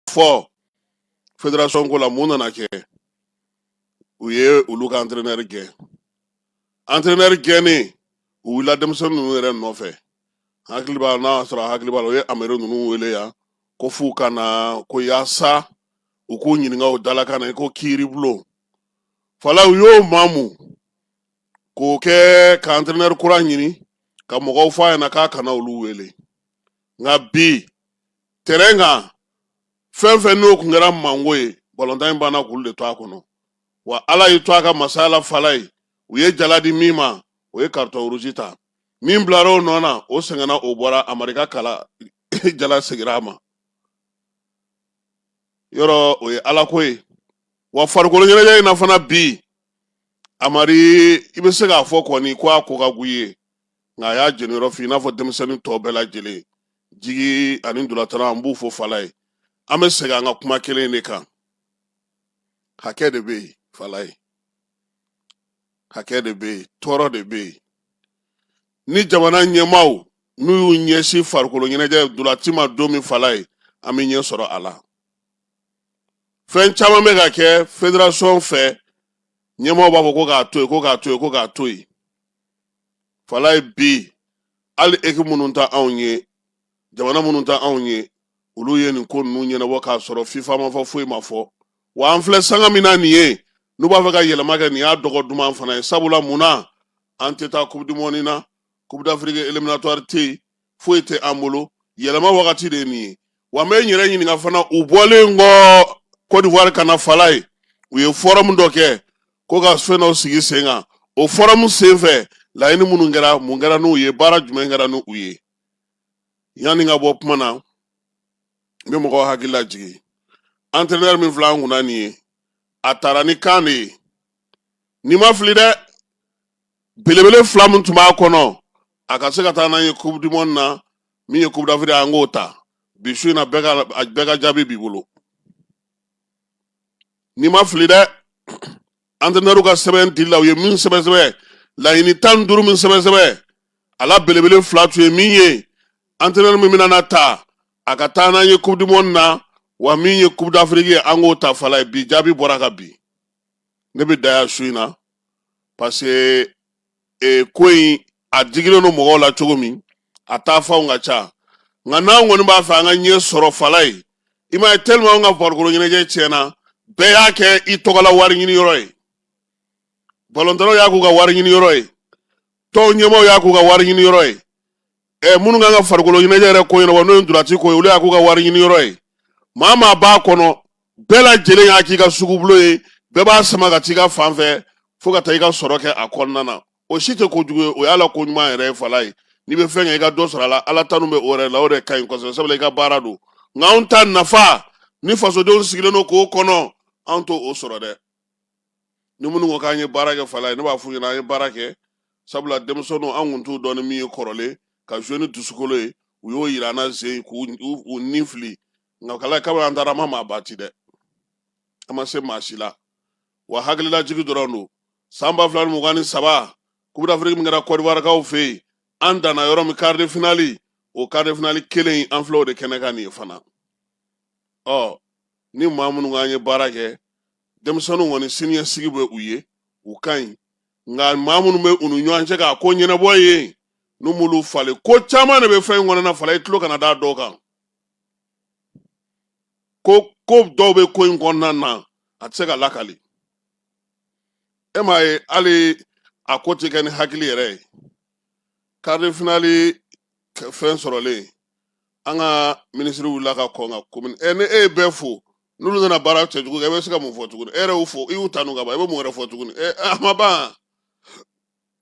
fɔ federasɔn ko la mun nana kɛ u ye olu ka antrenɛri gɛn antrenɛri gɛnnen u wulila denmisɛnnin ninnu yɛrɛ nɔfɛ hakili b'a n'a sɔrɔ a hakili b'a la u ye amari ninnu wele yan ko f'u ka na ko yaasa u k'u ɲininka u dalakan na i ko kiiribulon fala u y'o maamu k'o kɛ ka antrenɛri kura ɲini ka mɔgɔw fɔ a ɲɛna k'a kana olu wele nka bi terrain kan fɛn fɛn n'o kun kɛra mango ye balontan in banna k'olu de to a kɔnɔ wa ala y'i to a ka masaya la fala ye u ye jala di min ma o ye carton rouge ta min bilara o nɔ na o sɛgɛnna o bɔra amari ka kala jala segira a ma yɔrɔ o ye ala ko ye wa farikolo ɲɛnajɛ in na fana bi amari i bɛ se k'a fɔ kɔni ko a ko ka gu ye nka a y'a jeniyɔrɔ fin i n'a fɔ denmisɛnnin tɔ bɛɛ lajɛlen jigi ani ntolatanna an b'u fo fala ye an bɛ segin an ka kuma kelen de kan hakɛ de bɛ yen fala ye hakɛ de bɛ yen tɔɔrɔ de bɛ yen ni jamana ɲɛmaaw n'u y'u ɲɛsin farikolo ɲɛnajɛ ntolaci ma don min fala ye an bɛ ɲɛ sɔrɔ a la fɛn caman bɛ ka kɛ federasɔn fɛ ɲɛmɔgɔ b'a fɔ ko k'a to yen ko k'a to yen ko k'a to yen fala ye bi hali équipe minnu ta anw ye jamana minnu ta anw ye olu ye nin ko ninnu ɲɛnabɔ k'a sɔrɔ fifa ma fɔ foyi ma fɔ wa an filɛ sanga min na nin ye n'u b'a fɛ ka yɛlɛma kɛ nin y'a dɔgɔ duman fana ye sabula mun na an tɛ taa coupe du monde na coupe d'afrique éliminatoire tɛ yen foyi tɛ an bolo yɛlɛma wagati de ye nin ye wa n bɛ n yɛrɛ ɲininka fana u bɔlen kɔ Côte d'Ivoire ka na fala ye u ye forum dɔ kɛ ko ka fɛn dɔ sigi sen kan o forum sen fɛ laɲini minnu kɛra mun kɛra n'u ye baara jumɛn kɛra n'u ye yanni n ka bɔ kuma na n bɛ mɔgɔw hakili lajigin entraîneur min filɛ an kunna nin ye a tara ni kan de ye ni n ma fili dɛ belebele fila min tun b'a kɔnɔ a ka se ka taa n'an ye coupe du monde na min ye coupe d'afrique an k'o ta bi su in na bɛɛ ka jaabi b'i bolo ni n ma fili dɛ entraîneur ka sɛbɛn dili la u ye min sɛbɛn sɛbɛn laɲini tan ni duuru min sɛbɛn sɛbɛn a la belebele fila tun ye min ye entraîneur min bɛna na ta a ka taa n'an ye coupe du monde na wa min ye coupe d'afrique ye an k'o ta fala ye bi jaabi bɔra ka bin ne bɛ dan yan su in na parce que ko in a digilen don mɔgɔw la cogo min a taa fanw ka ca nka n'an kɔni b'a fɛ an ka ɲɛ sɔrɔ fala ye i m'a ye tellement an ka farikolo ɲɛnajɛ tiɲɛna bɛɛ y'a kɛ i tɔgɔla wari ɲini yɔrɔ ye balontannaw y'a k'u ka wari ɲini yɔrɔ ye tɔn ɲɛmaaw y'a k'u ka wari ɲini yɔrɔ ye ɛ minnu kan ka farikolo ɲɛnajɛ yɛrɛ ko ɲɛnabɔ n'o ye ntolanci ko ye olu y'a k'u ka wari ɲini yɔrɔ ye maa maa b'a kɔnɔ bɛɛ lajɛlen y'a k'i ka sugubulon ye bɛɛ b'a sama ka t'i ka fan fɛ fo ka taa i ka sɔrɔ kɛ a kɔnɔna na o si tɛ ko jugu ye o y'a la ko ɲuman yɛrɛ ye falaye n'i bɛ fɛn kɛ i ka dɔ sɔrɔ a la ala tanu bɛ o yɛrɛ la o de ka ɲi kosɛbɛ sabula i ka baara don nka anw ta nafa ni fasodenw sigilen don k'o kɔnɔ anw t'o sɔrɔ dɛ ni minnu ko k'an ye baara kɛ falaye ne b'a f'u ɲɛna an ye baara kɛ sabula denmisɛnninw an kun t'u dɔn ni min ye kɔrɔlen ka jouer ni dusukolo ye u y'o yira an na zen k'u u- u ni fili nka kala kabini an taara an ma maa bati dɛ an ma se maa si la wa hakililajigi dɔrɔn don san ba fila ni mugan ni saba coupe d'afrique min kɛra kɔdiwarikaw fɛ yen an danna yɔrɔ min quart de finale o quart de finale kelen in an filɛ o de kɛnɛ kan nin ye fana ɔ ni maa minnu k'an ye baara kɛ denmisɛnninw kɔni siniɲɛsigi bɛ u ye u ka ɲi nka maa minnu bɛ u ni ɲɔgɔn cɛ k'a ko ɲɛnabɔ ye n'u m'olu falen ko caman de bɛ fɛn in kɔnɔna falaye i tulo kana da dɔw kan ko dɔw bɛ ko in kɔnɔna na a tɛ se ka lakali e m'a ye hali a ko tɛ kɛ ni hakili yɛrɛ ye quart de finale fɛn sɔrɔlen an ka minisiri wulila ka kɔn ka communiquer ni e ye bɛɛ fo n'olu nana baara cɛjugu kɛ i bɛ se ka mun fɔ tuguni e yɛrɛ y'u fo i y'u tanu ka ban i bɛ mun wɛrɛ fɔ tuguni ɛ a ma ban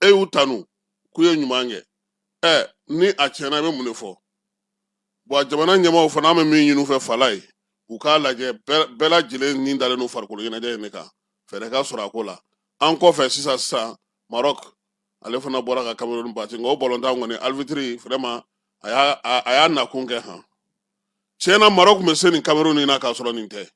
e y'u tanu k'u ye ɲuman kɛ ɛ ni a tiɲɛna i bɛ mun de fɔ wa jamana ɲɛmaaw fana an bɛ min ɲini u fɛ falaye u k'a lajɛ bɛɛ lajɛlen ni dalen don farikolo ɲɛnajɛ in de kan fɛɛrɛ ka sɔrɔ a ko la an kɔfɛ sisan sisan marɔk ale fana bɔra ka kamerun bati nka o balontan kɔni arbitre vraiment a y'a a y'a nakun kɛ han tiɲɛ na marɔk tun bɛ se nin kamerun in na k'a sɔrɔ nin tɛ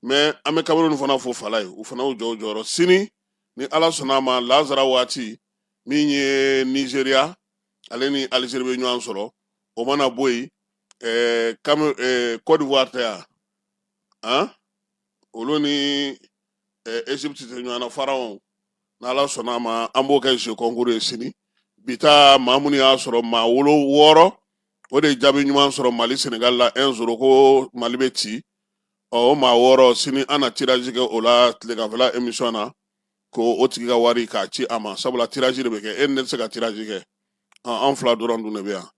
mais an bɛ kamerun fana fo falaye u fana y'u jɔ u jɔyɔrɔ sini ni ala sɔnna a ma lazara waati min ye nizeriya ale ni alizeri bɛ ɲɔgɔn sɔrɔ o mana bɔ yen ɛɛ kame ɛɛ kɔdiwari tɛ yan han olu ni egypte tɛ ɲɔgɔn na pharaon n'ala sɔnna a ma an b'o kɛ jeu concours ye sini bi ta maa minnu y'a sɔrɔ maa wolo wɔɔrɔ o de jaabi ɲuman sɔrɔ mali senegal la 1 zéro ko mali bɛ ci ɔ o maa wɔɔrɔ sini an na tirage kɛ o la tileganfɛla emission na ko o tigi ka wari k'a ci a ma sabula tirage de bɛ kɛ e ni ne tɛ se ka tirage kɛ ɔ an fila dɔrɔn dun de bɛ yan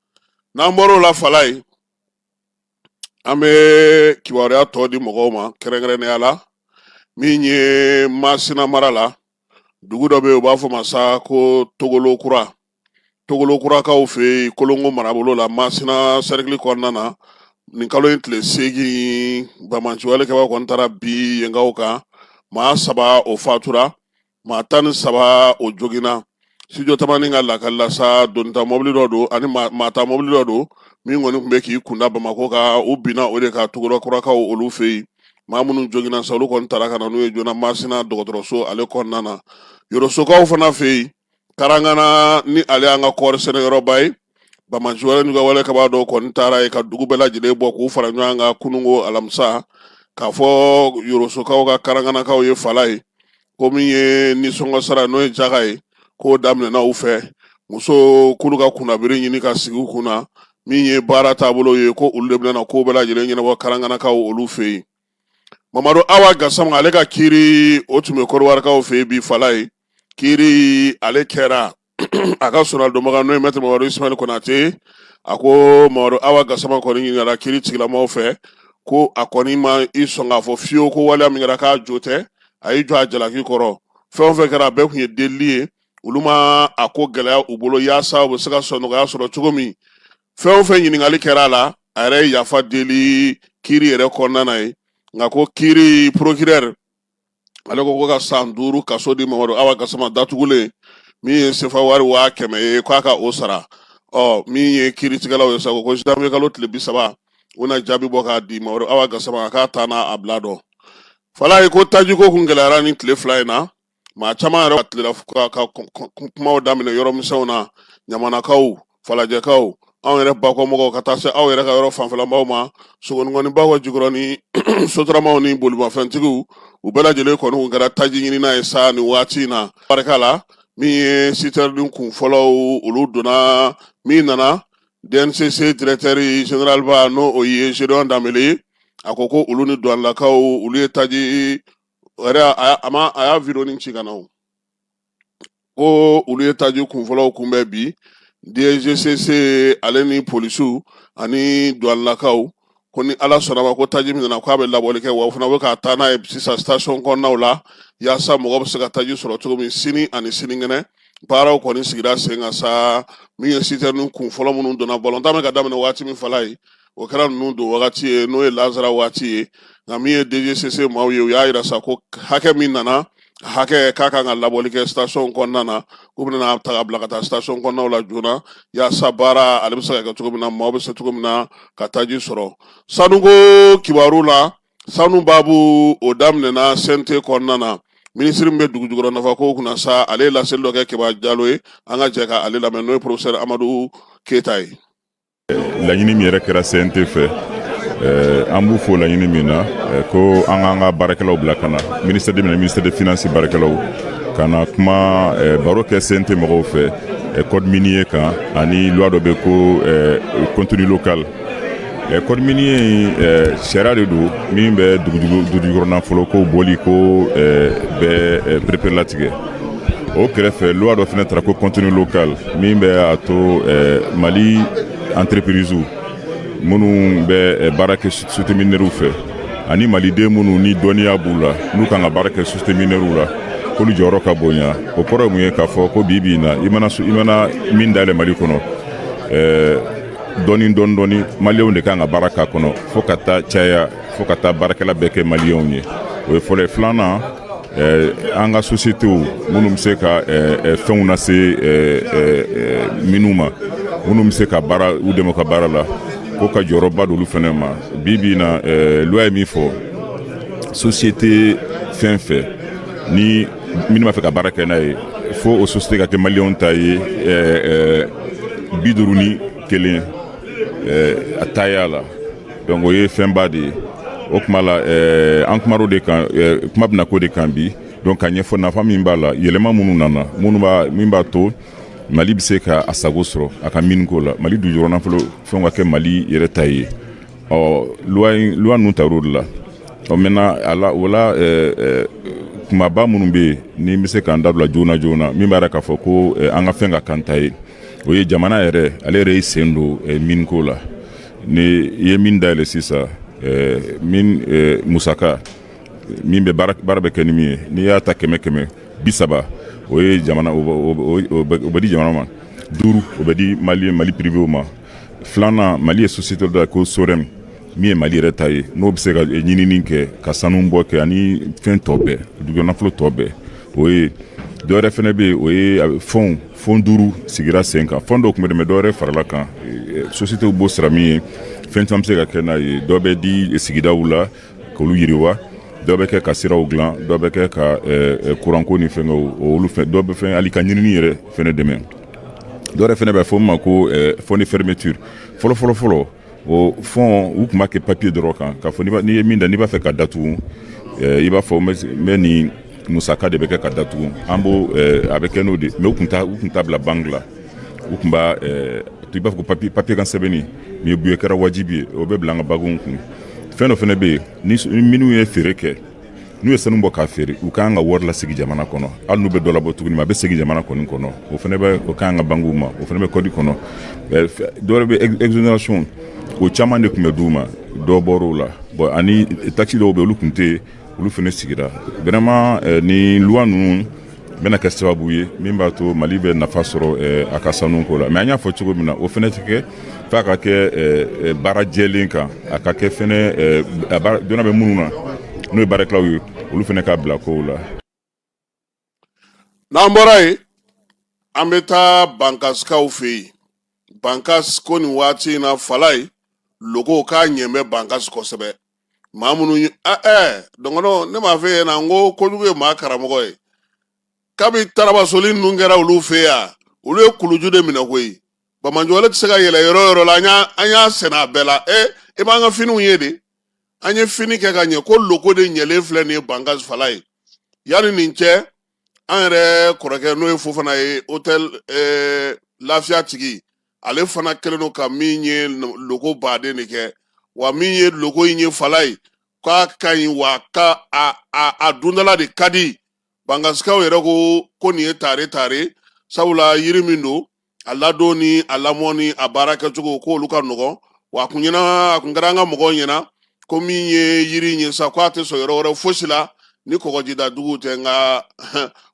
n'an bɔr'o la falaye an bɛ kibaruya tɔ di mɔgɔw ma kɛrɛnkɛrɛnnenya la min ye masina mara la dugu dɔ bɛ yen u b'a fɔ ma sa ko togolo kura togolo kurakaw fɛ yen kolongo marabolo la masina sɛrikili kɔnɔna na nin kalo in tile seegin banbaanciwale kɛbaa kɔni taara bin yenkaw kan maa saba o fatura maa tan ni saba o joginna studio tamani ka lakali la sa donita mɔbili dɔ don ani maa ta mɔbili dɔ don min kɔni tun bɛ k'i kunda bamakɔ kan u binna o de kan tugura kurakaw olu fɛ yen maa minnu joginna sa olu kɔni taara ka na n'u ye joona masina dɔgɔtɔrɔso ale kɔnɔna na yorosokaw fana fɛ yen karangana ni ale y'an ka kɔɔri sɛnɛyɔrɔba ye banbaanci wale kɛbaa dɔw kɔni taara yen ka dugu bɛɛ lajɛlen bɔ k'u fara ɲɔgɔn kan kununko alamisa k'a fɔ yorosokaw ka karanganakaw ye falaye ko min ye nisɔngɔ sara n'o ye jaga ye k'o daminɛna u fɛ musow k'olu ka kunnabiri ɲini ka sigi u kun na min ye baara taabolo ye ko olu de bɛna ko bɛɛ lajɛlen ɲɛnabɔ karanganakaw olu fɛ yen mamadu awa gasama ale ka kiiri o tun bɛ kɔdiwarikaw fɛ yen bi falaye kiiri ale kɛra a ka soronadonbaga n'o ye mɛtiri mamadu ismail konate a ko mamadu awa gasama kɔni ɲininkara kiritigɛlamaaw fɛ ko a kɔni ma i sɔn k'a fɔ fiyewu ko waleya min kɛra k'a jo tɛ a y'i jɔ a jalaki kɔrɔ fɛn o fɛn kɛra a bɛɛ tun ye delili ye olu ma a ko gɛlɛya u bolo yaasa u bɛ se ka sɔn nɔgɔya sɔrɔ cogo min fɛn o fɛn ɲininkali kɛra a la a yɛrɛ ye yafa deli kiri yɛrɛ kɔnɔna na ye nka ko kiri porokirɛri ale ko ko ka san duuru kaso di mamadu awa gasama datugulen min ye sefa wari waa kɛmɛ ye k'a ka o sara ɔ min ye kiritigɛlaw ye sa ko janvier kalo tile bi saba u na jaabi bɔ k'a di mamadu awa gasama k'a ta n'a a bila dɔn falaye ko tajiko kun gɛlɛyara ni tile fila in na maa caman yɛrɛ tilala ka kumaw daminɛ yɔrɔ misɛnw na ɲamanakaw falajɛkaw anw yɛrɛ bakɔmɔgɔw ka taa se aw yɛrɛ ka yɔrɔ fanfɛlamaaw ma sogoninkɔ ni bakɔjikɔrɔni sotaramaw ni bolimafɛntigiw u bɛɛ lajɛlen kɔni kun kɛra taji ɲinina ye sa ni waati in na barika la min ye sitɛrinin kun fɔlɔw olu donna min nana dncc directeur général ba n'o o ye zédion danbele a ko ko olu ni duwanlakaw olu ye taji a y'a vidéonin ci ka na ko olu ye taji kunfɔlɔw kunbɛn bi DGCC ale ni polisiw ani duwanlakaw ko ni ala sɔnn'a ma ko taji min nana k'a bɛ labɔli kɛ wa o fana bɛ ka taa n'a ye sisan station kɔnɔnaw la yaasa mɔgɔ bɛ se ka taji sɔrɔ cogo min sini ani sinikɛnɛ baaraw kɔni sigira sen kan sa min ye sitɛrinin kun fɔlɔ minnu donna balontan bɛ ka daminɛ waati min falaye o kɛra ninnu don wagati ye n'o ye lazara waati ye nka min ye DGCC maaw ye u y'a yira sa ko hakɛ min nana hakɛ ka kan ka labɔli kɛ station kɔnɔna na u bɛna ta ka bila ka taa station kɔnɔnaw la joona yaasa baara ale bɛ se ka kɛ cogo min na maaw bɛ se cogo min na ka taji sɔrɔ sanuko kibaru la sanu baabu o daminɛna CNT kɔnɔna na minisiri min bɛ dugu jukɔrɔ nafa ko kunna sa ale ye laseli dɔ kɛ kibarudilaw ye an ka jɛ ka ale lamɛn n'o ye professeur amadu keyita ye laɲini min yɛrɛ kɛra CNT fɛ eh, an b'u fo laɲini min na eh, ko an k'an ka baarakɛlaw bila ka na ministère de mine ni ministère de finance baarakɛlaw ka na kuma eh, baro kɛ CNT mɔgɔw fɛ code minier kan ani loi dɔ bɛ ko contenu local code minier in sariya de don min bɛ dugujukɔrɔnafolo ko bɔli ko bɛɛ pereperelatigɛ o kɛrɛfɛ loi dɔ fana tara ko contenu local min bɛ a to mali entrepiriziw minnu bɛ baara kɛ sosite minɛriw fɛ ani maliden minnu ni dɔnniya b'u la n'u kan ka baara kɛ sosite minɛriw la k'olu jɔyɔrɔ ka bonya o kɔrɔ ye mun ye k'a fɔ ko bi bi in na i mana i mana min dayɛlɛ mali kɔnɔ dɔɔni dɔɔni dɔɔni maliyɛnw de kan ka baara k'a kɔnɔ fo ka taa caya fo ka taa baarakɛla bɛɛ kɛ maliyɛnw ye o ye fɔlɔ ye filanan an ka sositew minnu bɛ se ka fɛnw nase minw ma minnu bɛ se ka baara u dɛmɛ ka baara la ko ka jɔyɔrɔba d'olu fana ma bi bi in na luwa ye min fɔ sosite fɛn fɛn ni minnu b'a fɛ ka baara kɛ n'a ye fo o sosite ka kɛ maliyɛnw ta ye bi duuru ni kelen a taya la donc o ye fɛnba de ye o kuma la eh, an kumar'o de kan eh, kuma bɛna k'o de kan bi donc k'a ɲɛfɔ nafa min b'a la yɛlɛma minnu nana minnu b'a min b'a to mali bɛ se ka a sago sɔrɔ a ka miniko la mali dujɔrɔ nafolo fɛnw ka kɛ mali yɛrɛ ta ye ɔ luwa luwa ninnu tar'o de la ɔ maintenant o la eh, eh, kumaba minnu bɛ yen ni n bɛ se k'an dabila joona joona min b'a yira k'a fɔ ko eh, an ka fɛn ka k'an ta ye o ye jamana yɛrɛ ale yɛrɛ y'i sen don eh, miniko la ni i ye min dayɛlɛ sisan eh, min eh, musaka min bɛ baara bɛ kɛ ni min ye n'i y'a ta kɛmɛ kɛmɛ bi saba o ye jamana o bɛ di jamana ma duuru o bɛ di mali mali piriwew ma filanan mali ye sosite da ko sorɛm min ye mali yɛrɛ ta ye n'o bɛ se ka ɲinini kɛ ka sanu bɔ kɛ ani fɛn tɔ bɛɛ dugumanafolo tɔ bɛɛ o ye dɔwɛrɛ fana bɛ yen o ye fɔn fɔn duuru sigira sen kan fɔn dɔw tun bɛ dɛmɛ dɔwɛrɛ farala kan sositew b'o sara min ye fɛn caman bɛ se ka kɛ n'a ye dɔ bɛ di sigidaw la Ka olu yiriwa dɔ bɛ kɛ ka siraw dilan dɔ bɛ kɛ ka kuranko ni fɛnkɛw olu fɛn dɔ bɛ fɛn hali ka ɲinini yɛrɛ fana dɛmɛ dɔwɛrɛ fana bɛ fɔ min ma ko fɔn de fermeture fɔlɔfɔlɔ fɔlɔ o fɔn u tun b'a kɛ papiye dɔrɔn kan k'a fɔ n'i ye min da n'i b'a fɛ k'a datugu i b'a fɔ n bɛ nin musaka de bɛ kɛ ka datugu an b'o eh, a bɛ kɛ n'o de mais u tun t'a u tun t'a bila banki la u tun b'a eh, i b'a fɔ ko papiye papiye kan sɛbɛnni mais bi o kɛra wajibi ye o bɛ bila an ka bankiw kun fɛn dɔ fana bɛ yen ni minnu ye feere kɛ n'u ye sanu bɔ k'a feere u k'an ka wari lasegin jamana kɔnɔ hali n'u bɛ dɔ labɔ tuguni mais a bɛ segin jamana kɔni kɔnɔ o fana bɛ o k'an ka bankiw ma o fana bɛ kɔdi kɔnɔ eh, dɔwɛrɛ bɛ exonération o caman de tun bɛ d'u ma dɔ bɔr'o la bon ani taxe dɔw bɛ olu tun tɛ olu fana sigira vraiment eh, ni loi ninnu bɛna kɛ sababu ye min b'a to mali bɛ nafa sɔrɔ eh, a ka sanu ko la mais an y'a fɔ cogo min na o fana tɛ kɛ f'a ka kɛ eh, baara jɛlen kan a ka kɛ fana dɔnna bɛ minnu na n'o ye baarakɛlaw ye olu fana ka bila kow la n'an bɔra yen an bɛ taa bankasikaw fɛ yen bankas ko nin waati in na falaye loko k'a ɲɛ bɛ bankas kosɛbɛ maa minnu ye ɛ eh, ɛ eh, dɔgɔnɔ ne m'a f'e ɲɛna n ko kojugu ye maa karamɔgɔ ye kabi tarabasoli ninnu kɛra olu fɛ yan olu ye kuluju de minɛ koyi bamanjɔle tɛ se ka yɛlɛ yɔrɔ yɔrɔ la an y'a sɛnɛ a bɛɛ la ɛ eh, i b'an ka finiw ye de an ye fini kɛ ka ɲɛ ko loko de ɲɛlen filɛ nin ye bankas falaye yanni nin cɛ an yɛrɛ kɔrɔkɛ n'o ye fofana ye hôtel eh, lafiya tigi ale fana kɛlen don ka min ye loko baden de kɛ wa min ye loko in ye falaye k'a ka ɲi wa ka a, a, a dundala de ka di bankasikaw yɛrɛ ko ko nin ye tare tare sabula yiri min don a ladon ni a lamɔ ni a baara kɛcogo ko olu ka nɔgɔn wa a kun ɲɛna a kun kɛra an ka mɔgɔw ɲɛna ko min ye yiri in ye sa ko a tɛ sɔn yɔrɔ wɛrɛ fosi la ni kɔgɔjida dugu tɛ nka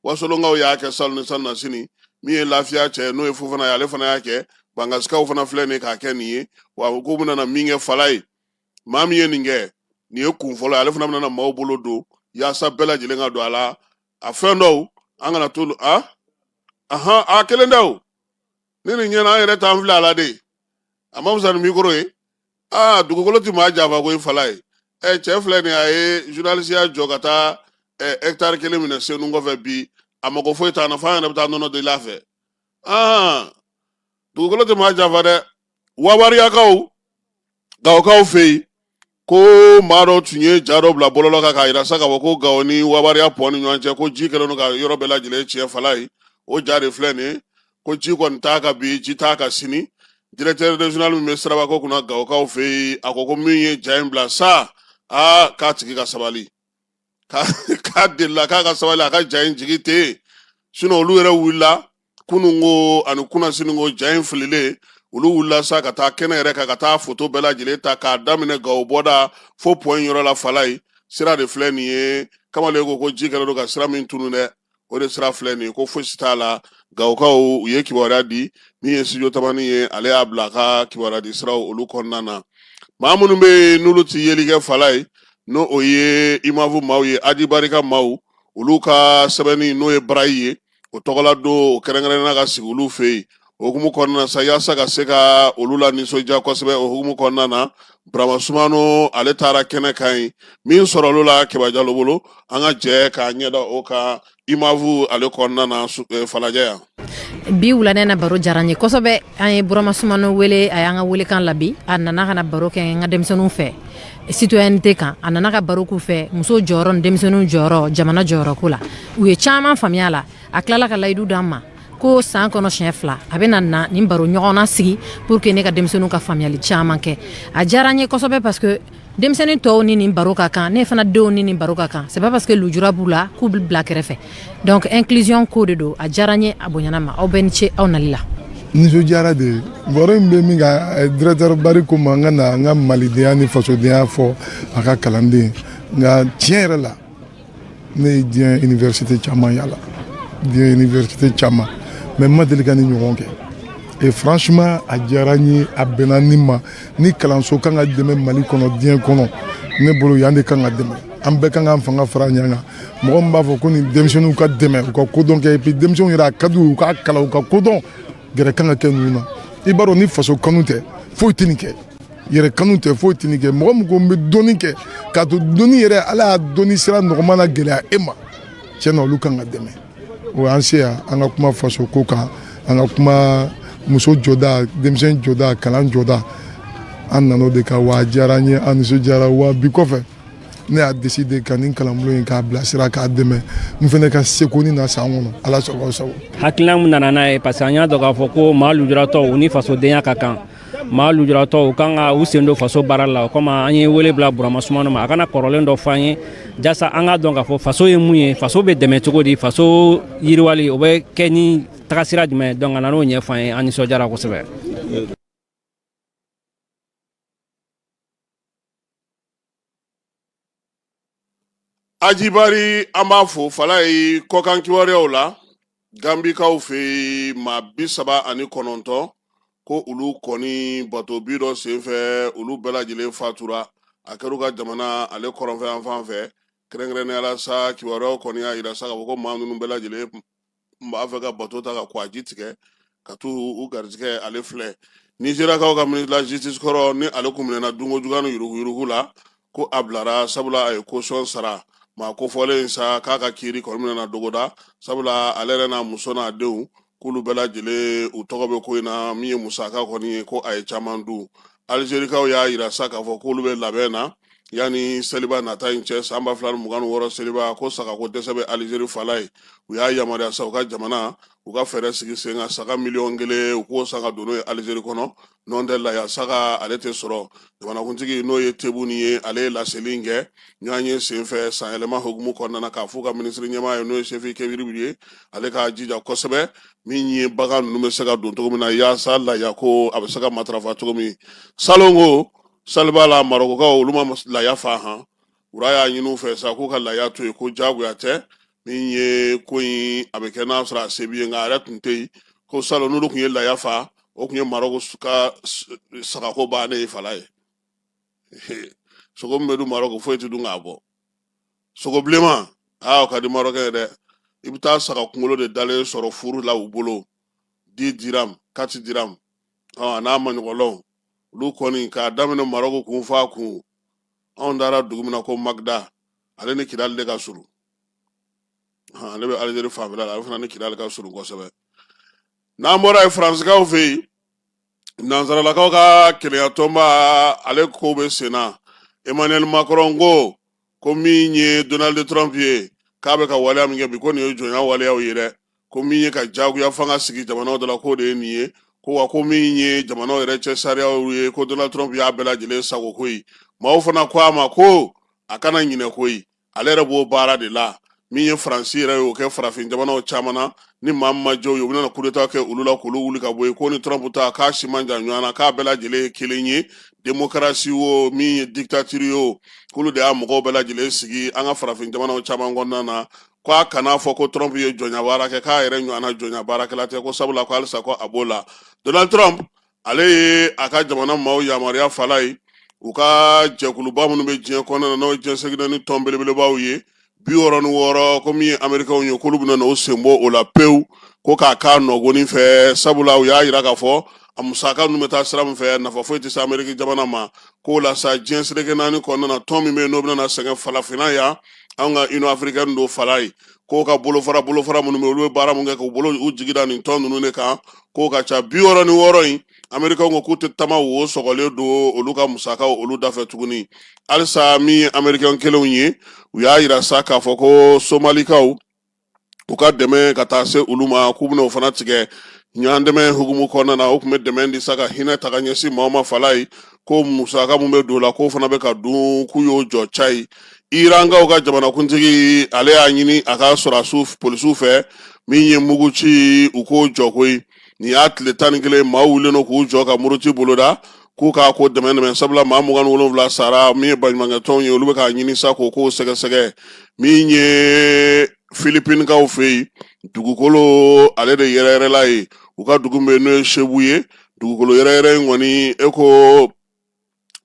wasolonkaw y'a kɛ salon ni salonnasini min ye lafiya cɛ n'o ye fofana ye ale fana y'a kɛ bankasikaw fana filɛ nin k'a kɛ nin ye wa ko bɛna min kɛ falaye maa min ye nin kɛ nin ye kun fɔlɔ ye ale fana bɛna maaw bolo don yaasa bɛɛ lajɛlen ka don a la a fɛn dɔw an kana t'olu a ahan a kelen da o ni nin ɲɛna an yɛrɛ t'an filɛ a la de a ma fisa ni mikoro ye aa dugukolo tɛ maa janfa koyi falaye ɛ cɛ filɛ nin a ye journalisiya jɔ ka taa ɛ hɛkitari kelen minɛ senu kɔfɛ bi a mago foyi t'an na f'an yɛrɛ bɛ taa nɔnɔ deli a fɛ aa dugukolo tɛ maa janfa dɛ wabariyakaw gawokaw fɛ yen ko maa dɔ tun ye ja dɔ bila bɔlɔlɔ kan k'a jira sa k'a fɔ ko gawo ni wabariya pɔn ni ɲɔgɔn cɛ ko ji kɛlen don ka yɔrɔ bɛɛ lajɛlen tiɲɛ falaye o ja de filɛ nin ye ko ji kɔni t'a kan bi ji t'a kan sini directeur régional min bɛ sirabako kunna gawokaw fɛ yen a ko ko min ye ja in bila sa aa k'a tigi ka sabali k'a k'a delila k'a ka sabali a ka ja in jigi tɛ yen sinɔn olu yɛrɛ wulila kunun ko ani kunasini ko ja in fililen olu wulila sa ka taa kɛnɛ yɛrɛ kan ka taa foto bɛɛ lajɛlen ta k'a daminɛ gawo bɔda fo pɔn yɔrɔ la fala ye sira de filɛ nin ye kamalen ko ko ji kɛlen don ka sira min tunun dɛ o de sira filɛ nin ye ko fosi t'a la gawokaw u ye kibaruya di min ye studio tamani ye ale y'a bila a ka kibaruya di siraw olu kɔnɔna na maa minnu bɛ yen n'olu tɛ yeli kɛ falajɛ n'o ye imavu maaw ye aji bari ka maaw olu ka sɛbɛnni n'o ye barayi ye o tɔgɔla don o kɛrɛnkɛrɛnna ka sigi olu fɛ yen o hukumu kɔnɔna na sa yasa ka se ka olu la nisɔndiya kosɛbɛ o hukumu kɔnɔna na burama sumano ale taara kɛnɛ kan ye min sɔrɔ olu la kɛba jalo bolo an ka jɛ k'a ɲɛda o kan imavu ale kɔnɔna na eh, falajɛ yan bi wula nin na baro diyara n ye kosɛbɛ an ye burama sumano wele a y'an ka welekan jaabi a nana ka na baro kɛ n ka denmisɛnninw fɛ citoyenneté kan a nana ka baro k'u fɛ muso jɔyɔrɔ ni denmisɛnninw jɔyɔrɔ jamana jɔyɔrɔ ko la u ye caman faamuya a la a tilala ka layidu d'an ma ko san kɔnɔ siɲɛ fila a bɛ na na nin baro ɲɔgɔnna sigi pour que ne ka denmisɛnninw ka faamuyali caman kɛ a diyara n ye kosɛbɛ parce que denmisɛnnin tɔw ni nin baro ka kan ne fana denw ni nin baro ka kan c'est pas parce que lujura b'u la k'u bɛ bila kɛrɛfɛ donc inclusion ko de don a diyara n ye a bonyana n ma aw bɛɛ ni ce aw nali la nisɔndiyara de baro in bɛ min kan eh, directeur bari ko n ma n ka na n ka malidenya ni fasodenya fɔ a ka kalanden nka tiɲɛ yɛrɛ la ne ye diɲɛ université caman yala diɲɛ université caman mais n ma deli ka nin ɲɔgɔn kɛ et franchement a diyara n ye a bɛnna ne ma nin kalanso kan ka dɛmɛ mali kɔnɔ diɲɛ kɔnɔ ne bolo yan de kan ka dɛmɛ an bɛɛ kan k'an fanga fara ɲɔgɔn kan mɔgɔ min b'a fɔ ko nin denmisɛnninw ka dɛmɛ u ka kodɔn kɛ et puis denmisɛnw yɛrɛ a ka di u ka kalan u ka kodɔn gɛrɛ kan ka kɛ ninnu na i b'a dɔn ni faso kanu tɛ foyi tɛ nin kɛ yɛrɛ kanu tɛ foyi tɛ nin kɛ mɔgɔ min ko n bɛ dɔnni kɛ k'a to dɔnni yɛrɛ ala y'a dɔnni sira nɔgɔma na gɛlɛya e ma tiɲɛ na olu kan ka dɛmɛ o y'an se yan an ka kuma faso ko kan an ka kuma muso jɔda denmisɛn jɔda kalan jɔda an nana o de kan wa a diyara an ye an nisɔndiyara wa bi kɔfɛ ne y'a deside ka nin kalanbulon in k'a bilasira k'a dɛmɛ n fana ka seko ni na san kɔnɔ ala sago aw sago hakilina min nana n'a ye parce que an y'a dɔn k'a fɔ ko maa lujuratɔ u ni fasodenya ka kan maa lujuratɔ u kan ka u sen don faso baara la o kama an ye wele bila burama sumano ma a ka na kɔrɔlen dɔ fɔ an ye jasa an k'a dɔn k'a fɔ faso ye mun ye faso bɛ dɛmɛ cogo di faso yiriwali o bɛ kɛ ni tagasira jumɛn donc a nan'o ɲɛfɔ an ye an nisɔndiyara kosɛbɛ ajibari an b'a fo fala ye kɔkan kibaruyaw la gambikaw fɛ yen maa bi saba ani kɔnɔntɔn ko olu kɔni bato bin dɔ senfɛ olu bɛɛ lajɛlen fatura a kɛra u ka jamana ale kɔrɔnfɛ yan fan fɛ kɛrɛnkɛrɛnnenya la sa kibaruyaw kɔni y'a jira sa k'a fɔ ko maa ninnu bɛɛ lajɛlen n b'a fɛ ka bato ta ka kɔgɔji tigɛ ka t'u garijɛgɛ ale filɛ nizeriyakaw ka ministre de la justice kɔrɔ ni ale kun minɛna dunko juguya ni yuruguyurugu la ko a bilara sabula a ye caution sara maa kofɔlen in sa k'a ka kiri kɔni minɛna dɔgɔda sabula ale yɛrɛ n'a muso n'a denw k'olu bɛɛ lajɛlen u tɔgɔ bɛ ko in na min ye musaka kɔni ye ko a ye caman dun alizerikaw y'a jira sa k'a fɔ k'olu bɛ labɛn na yanni seliba nata in cɛ san ba fila ni mugan ni wɔɔrɔ seliba ko sagako dɛsɛ bɛ alizeri fala ye u y'a yamaruya sa u ka jamana u ka fɛɛrɛ sigi sen kan saga miliyɔn kelen u k'o san ka don n'o ye alizeri kɔnɔ n'o tɛ laya saga ale tɛ sɔrɔ jamanakuntigi n'o ye tebuni ye ale ye laseli in kɛ ɲɔgɔnye senfɛ sanyɛlɛma hukumu kɔnɔna na k'a fɔ ka minisiri ɲɛmaa ye n'o ye sefi kebiribu ye ale k'a jija kosɛbɛ min ye bagan ninnu bɛ se ka don cogo min na yaasa laya ko a bɛ se ka matarafa cogo min salon ko seliba la marɔkukaw olu ma laya fa han roi y'a ɲini u fɛ sa k'u ka laya to yen ko jagoya tɛ min ye ko in a bɛ kɛ n'a sɔrɔ a se b'i ye nka a yɛrɛ tun tɛ yen ko salon n'olu tun ye laya fa o tun ye marɔku ka sagako bannen ye fala ye sogo min bɛ dun marɔku foyi tɛ dun k'a bɔ sogobilenman aa o ka di marɔkɛn ye dɛ i bɛ taa saga kunkolo de dalen sɔrɔ furu la u bolo dix dirham quatre dirham a n'a maɲɔgɔnlaw olu kɔni k'a daminɛ marɔku kun f'a kun anw taara dugu min na ko magda ale ni kidali de ka surun ale bɛ alizeri fanfɛla la ale fana ni kidali ka surun kosɛbɛ n'an bɔra yen faransikaw fɛ yen nansaralakaw ka kelenyatɔnba ale ko bɛ sen na emmanuel macron ko ko min ye donald trump ye k'a bɛ ka waleya min kɛ bi ko nin ye jɔnya waleyaw ye dɛ ko min ye ka jagoya fanga sigi jamanaw dɔ la k'o de ye nin ye ko wa ko min ye jamanaw yɛrɛ cɛ sariyaw ye ko donald trump y'a bɛɛ lajɛlen sagon koyi maaw fana ko a ma ko a kana ɲinɛ koyi ale yɛrɛ b'o baara de la min ye faransi yɛrɛ y'o kɛ farafin jamanaw caman na ni maa min ma jɔ u ye u bɛna kudeta kɛ olu la k'olu wuli ka bɔ yen k'o ni trump ta k'a si man jan ɲɔgɔn na k'a bɛɛ lajɛlen ye kelen ye demokarasi o min ye diktatiri o k'olu de y'a mɔgɔw bɛɛ lajɛlen sigi an ka farafin jamanaw caman kɔnɔna na ko a kana fɔ ko trump ye jɔnya baara kɛ k'a yɛrɛ ɲɔgɔnna jɔnya baarakɛla tɛ ko sabula ko halisa ko a b'o la donald trump ale ye a ka jamana maaw yamaruya fala ye u ka jɛkuluba minnu bɛ diɲɛ kɔnɔna na n'o ye diɲɛ seleke naani tɔn belebelebaw ye bi wɔɔrɔ ni wɔɔrɔ ko min ye amerikɛnw ye k'olu bɛna n'o sen bɔ o la pewu ko k'a k'a nɔgoni fɛ sabula u y'a yira k'a fɔ a musaka ninnu bɛ taa sira min fɛ nafa foyi tɛ se ameriki jamana ma k'o la sa diɲɛ seleke naani kɔnɔna na tɔn min bɛ yen n'o bɛna sɛgɛn falafinna yan an ka union africaine don fala ye k'o ka bolofara bolofara minnu bɛ olu bɛ baara min kɛ k'u bolo u jigi da nin tɔn ninnu de kan k'o ka ca bi wɔɔrɔ ni wɔɔrɔ in amerikɛnw ko k'u tɛ tama wo sɔgɔlen don olu ka musakaw olu dafɛ tuguni halisa min ye amerikɛn kelenw ye u y'a yira sa k'a fɔ ko somalikaw u ka dɛmɛ ka taa se olu ma k'u bɛna o fana tigɛ ɲɔgɔn dɛmɛ hukumu kɔnɔna na u tun bɛ dɛmɛ di sa ka hinɛ ta ka ɲɛsin maa ma fala ye ko musaka min bɛ don o la k'o fana bɛ ka dun k'u y'o jɔ cayi irankaw ka jamanakuntigi ale y'a ɲini a ka sɔrɔdasiw polisiw fɛ min ye muguci u k'o jɔ koyi nin y'a tile tan ni kelen maa wulilen don k'u jɔ ka muruti boloda k'u k'a ko dɛmɛ dɛmɛ sabula maa mugan wolonwula sara min ye baɲumankɛtɔnw ye olu bɛ k'a ɲini sa k'o k'o sɛgɛsɛgɛ min ye filipinikaw fɛ yen dugukolo ale de yɛrɛyɛrɛla ye u ka dugu bɛ n'o ye sebu ye dugukolo yɛrɛyɛrɛ in kɔni e ko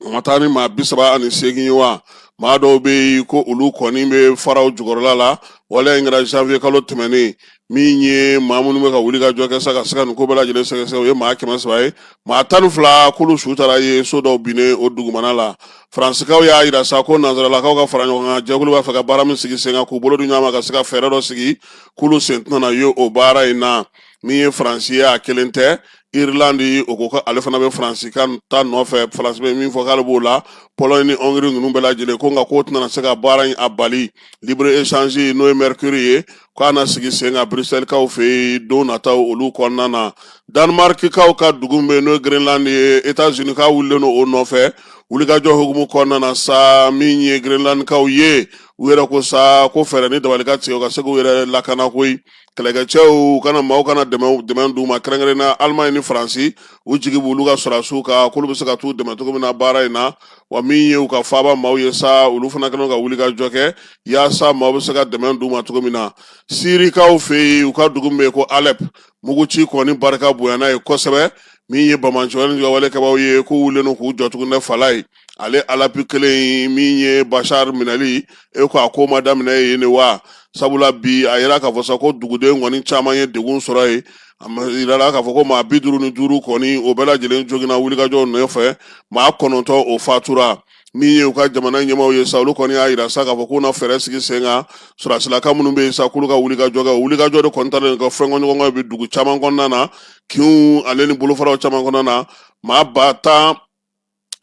o ma taa ni maa bi saba ani seegin ye wa maa dɔw bɛ yen ko olu kɔni bɛ faraw jukɔrɔla la waleya in kɛra janvier kalo tɛmɛnen min ye maa minnu bɛ ka wuli ka jɔ kɛ sa ka se ka nin ko bɛɛ lajɛlen sɛgɛsɛgɛ o ye maa kɛmɛ saba ye maa tan ni fila k'olu su tara ye so dɔw binnen o dugumana la faransikaw y'a yira sa ko nanzaralakaw ka fara ɲɔgɔn kan jɛkulu b'a fɛ ka baara min sigi sen kan k'u bolo di ɲɔgɔn ma ka se ka fɛɛrɛ dɔ sigi k'olu sen tɛna ye o baara in na min ye faransi ye a kelen tɛ irilandi o ko ko ale fana bɛ faransi ka ta nɔfɛ faransi bɛ min fɔ k'ale b'o la pɔlɔni ni ɔngiri ninnu bɛɛ lajɛlen ko nka k'o tɛna se ka baara in a bali libre échange n'o ye mercure ye k'a na sigi sen kan briselkaw fɛ yen don nataw olu kɔnɔna na danmarkikaw ka dugu min bɛ n'o ye greenland ye etats uniskaw wulilen don o nɔfɛ wulikajɔ hukumu kɔnɔna na sa min ye greenlandkaw ye u yɛrɛ ko sa ko fɛɛrɛ ni dabali ka tigɛ u ka se k'u yɛrɛ lakana koyi kɛlɛkɛcɛw ka na maaw ka na dɛmɛ dɛmɛ d'u ma kɛrɛnkɛrɛn na Allemagne ni Faransi u jigi b'olu ka sɔrɔdasiw kan k'olu bɛ se ka t'u dɛmɛ cogo min na baara in na wa min ye u ka faaba maaw ye sa olu fana kɛlen ka wuli ka jɔ kɛ yaasa maaw bɛ se ka dɛmɛ d'u ma cogo min na sirikaw fɛ yen u ka dugu min bɛ yen ko Alep muguci kɔni barika bonyana ye kosɛbɛ min ye banbaanciya wale kɛbaw ye k'u wulilen don k'u jɔ tuguni fala ye ale alep kelen min ye bashar minɛli e ko a ko ma daminɛ yen ne wa sabula bi a yira k'a fɔ sa ko duguden kɔni caman ye degun sɔrɔ yen a yirala k'a fɔ ko maa bi duuru ni duuru kɔni o bɛɛ lajɛlen jogina wulikajɔ nɔfɛ maa kɔnɔntɔn o fatura min ye u ka jamana ɲɛmaaw ye sa olu kɔni y'a yira sa k'a fɔ k'u na fɛɛrɛ sigi sen kan sɔrɔdasilakaw minnu bɛ yen sa k'olu ka wulikajɔ kɛ o wulikajɔ de kɔni talen ka fɔnkɔɲɔgɔnkɔ bɛ dugu caman kɔnɔna na kinw ale ni bolofaraw caman kɔnɔna na maa ba tan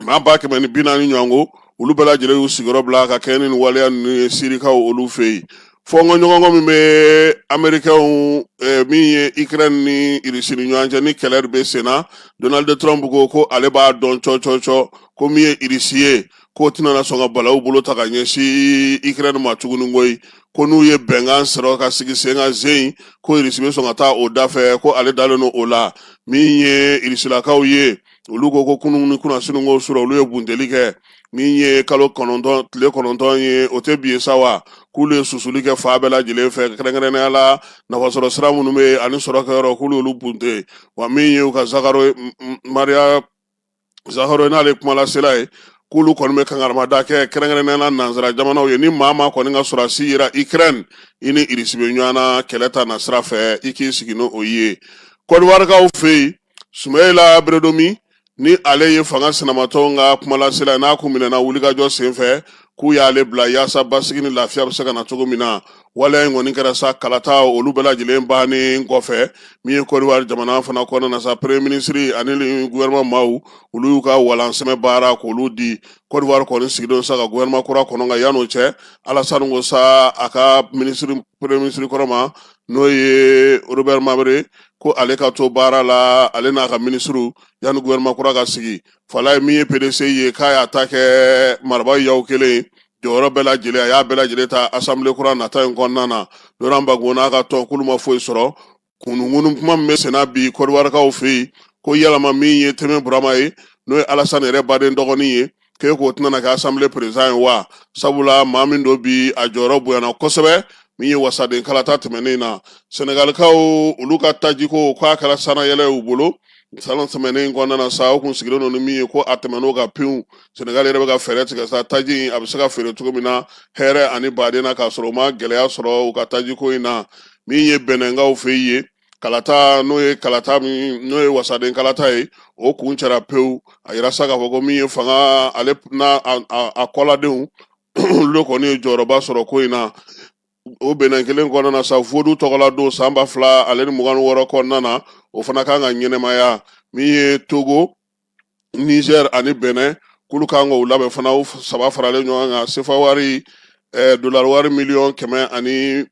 maa ba kɛmɛ ni bi naani ɲɔgɔn ko olu bɛɛ lajɛlen y'u sigiyɔrɔ bila ka kɛɲɛ ni waleya ninnu ye sirikaw olu fɛ yen fɔnkɔɲɔgɔnkɔ min bɛ amerikɛnw eh, min ye ukraine ni irisi ni ɲɔgɔn cɛ ni kɛlɛ de bɛ sen na donald trump ko ko ale b'a dɔn cɔcɔcɔ ko min ye irisi ye k'o tɛna sɔn ka balawu bolo ta ka ɲɛsin ukraine ma tuguni koyi ko n'u ye bɛnkan sɔrɔ ka sigi sen kan zen ko irisi bɛ sɔn ka taa o da fɛ ko ale dalen don o la min ye irisilakaw ye olu ko ko kunun ni kunasini ko sɔrɔ olu ye bunteli kɛ min ye kalo kɔnɔntɔn tile kɔnɔntɔn ye o tɛ bi ye sa wa k'olu ye susuli kɛ fan bɛɛ lajɛlen fɛ kɛrɛnkɛrɛnnenya la nafasɔrɔ sira minnu bɛ yen ani sɔrɔkɛyɔrɔ k'olu olu bunte wa min ye u ka zakaro maria zakharova n'ale kumalasela ye k'olu kɔni bɛ kankarimada kɛ kɛrɛnkɛrɛnnenya la nanzara jamanaw ye ni maa maa kɔni ka sɔrɔdasi yera ukraine i ni irisi bɛ ɲɔgɔn na kɛlɛ ta na sira fɛ i k'i sigi n'o ye kɔdiwarikaw fɛ yen Sumayila Beredomi ni ale ye fanga sinamatɔw ka kumalasela ye n'a kun minɛna wulikajɔ senfɛ k'u y'ale bila yaasa basigi ni lafiya bɛ se ka na cogo min na waleya in kɔni kɛra sa kalata olu bɛɛ lajɛlen bannen kɔfɛ min ye kɔdiwari jamana fana kɔnɔna na sa premier minisiri ani gouvernement maaw olu y'u ka walansɛmɛ baara k'olu di kɔdiwari kɔni sigilen sa ka gouvernement kura kɔnɔ nka yan'o cɛ alasani ko sa a ka minisiri premier minisiri kɔrɔ ma n'o ye robert mabere ko ale ka to baara la ale n'a ka minisiriw yanni gouvernement kura ka sigi fala ye min ye pdc ye k'a y'a ta kɛ maraba yaw kelen jɔyɔrɔ bɛɛ lajɛlen a y'a bɛɛ lajɛlen ta asanbile kura nata in kɔnɔna na laurent gbagbo n'a ka tɔn k'olu ma foyi sɔrɔ ŋunuŋunu kuma min bɛ senna bi kɔdiwarikaw fɛ yen ko yalama min ye tɛnɛ burama ye n'o ye alasani yɛrɛ baden dɔgɔnin ye k'e k'o tɛna kɛ asanbile perezidan ye wa sabula maa min don bi a jɔyɔrɔ bonyana kosɛbɛ min ye wasaden kalata tɛmɛnen na sɛnɛgalikaw olu ka tajiko k'a kɛra sannayɛlɛn y'u bolo san tɛmɛnen kɔnɔna na sa o kun sigilen don ni min ye ko a tɛmɛn'o kan pewu sɛnɛgali yɛrɛ bɛ ka fɛɛrɛ tigɛ sa taji in a bɛ se ka feere cogo min na hɛrɛ ani baden na k'a sɔrɔ u ma gɛlɛya sɔrɔ u ka tajiko in na min ye bɛnɛnkaw fɛ yen kalata n'o ye kalata min n'o ye wasaden kalata ye o kuncɛra pewu a yira sa k'a fɔ ko min ye fanga ale n'a a kɔladenw olu kɔni ye jɔyɔrɔba sɔrɔ ko in na o bɛnɛn kelen kɔnɔna na sa vodu tɔgɔla don san ba fila ale ni mugan wɔɔrɔ kɔnɔna na o fana kan ka ɲɛnamaya min ye togo Niger ani Benin k'olu kan k'o labɛn fana o saba faralen ɲɔgɔn kan sefa wari eh, dolari wari miliyɔn kɛmɛ ani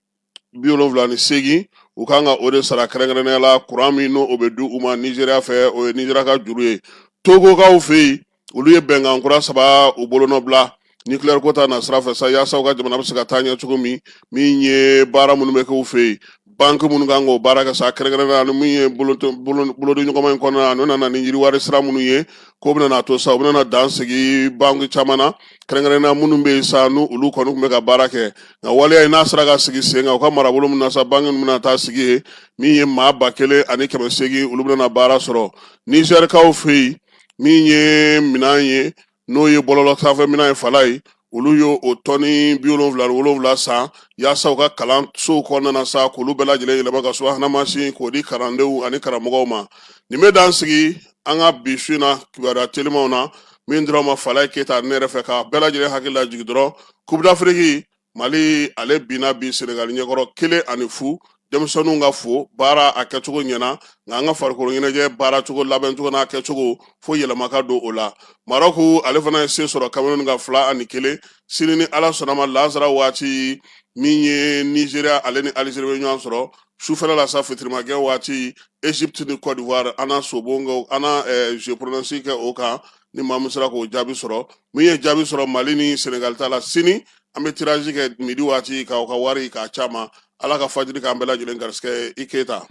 bi wolonwula ni seegin u kan ka o de sara kɛrɛnkɛrɛnnenya la kuran min n'o bɛ di u ma nizeriya fɛ o ye nizeriya ka juru ye togokaw fɛ yen olu ye bɛnkan kura saba u bolonɔbila nucléaire ko ta na sira fɛ sa yaasa u ka jamana bɛ se ka taa ɲɛ cogo min min ye baara minnu bɛ kɛ u fɛ yen banki minnu kan k'o baara kɛ sa kɛrɛnkɛrɛnnenya la min ye bolodiɲɔgɔnma in kɔnɔna na n'o nana ni yiriwari sira minnu ye k'o bɛna a to sa u bɛna dan sigi banki caman na kɛrɛnkɛrɛnnenya minnu bɛ yen sa n'u olu kɔni tun bɛ ka baara kɛ nka waleya in n'a sera ka sigi sen kan u ka marabolo min na sa banki ninnu bɛna taa sigi yen min ye maa ba kelen ani kɛmɛ seegin olu bɛna baara sɔrɔ nizɛrikaw fɛ yen min ye minɛn ye n'o ye bɔlɔlɔ sanfɛ minɛn ye Falaye olu y'o tɔni bi wolonwula ni wolonwula san yaasa u ka kalansow kɔnɔna na sa k'olu bɛɛ lajɛlen yɛlɛma ka subahana mansin k'o di kalandenw ani karamɔgɔw ma nin bɛ dan sigi an ka bi su in na kibaruya telimanw na min dir'aw ma Falaye keyita ne yɛrɛ fɛ k'a bɛɛ lajɛlen hakili lajigin dɔrɔn Coupe d'Afrique mali ale binna bi senegali ɲɛkɔrɔ kelen ani fu denmisɛnninw ka fo baara a kɛcogo ɲɛna nka an ka farikolo ɲɛnajɛ baara cogo labɛn cogo n'a kɛcogo fo yɛlɛma ka don o la marɔku ale fana ye se sɔrɔ kameruni kan fila ani kelen sini ni ala sɔnn'a ma lansara waati min ye nizeriya ale ni alizeri bɛ ɲɔgɔn sɔrɔ sufɛla la sa fitirimagɛ waati egypte ni cote d'ivoire an na sobon kɛ an na eh, jeu pronostic kɛ o kan ni maa min sera k'o jaabi sɔrɔ min ye jaabi sɔrɔ mali ni senegali ta la sini an bɛ tiraji kɛ midi waati k'aw ka wari k'a caman ala ka fajiri k'an bɛɛ lajɛlen garisigɛ i keyita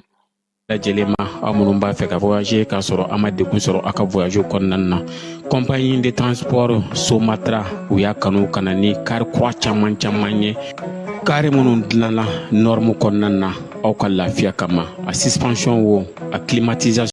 lajɛlen ma aw minnu b'a fɛ ka voyager k'a sɔrɔ a ma degun sɔrɔ a ka voyage kɔnɔna na compagnie de transport somatra u y'a kanu ka na ni kari kura caman caman ye kari minnu dilanna nɔrmu kɔnɔna na aw ka lafiya kama a suspension wo a climatisation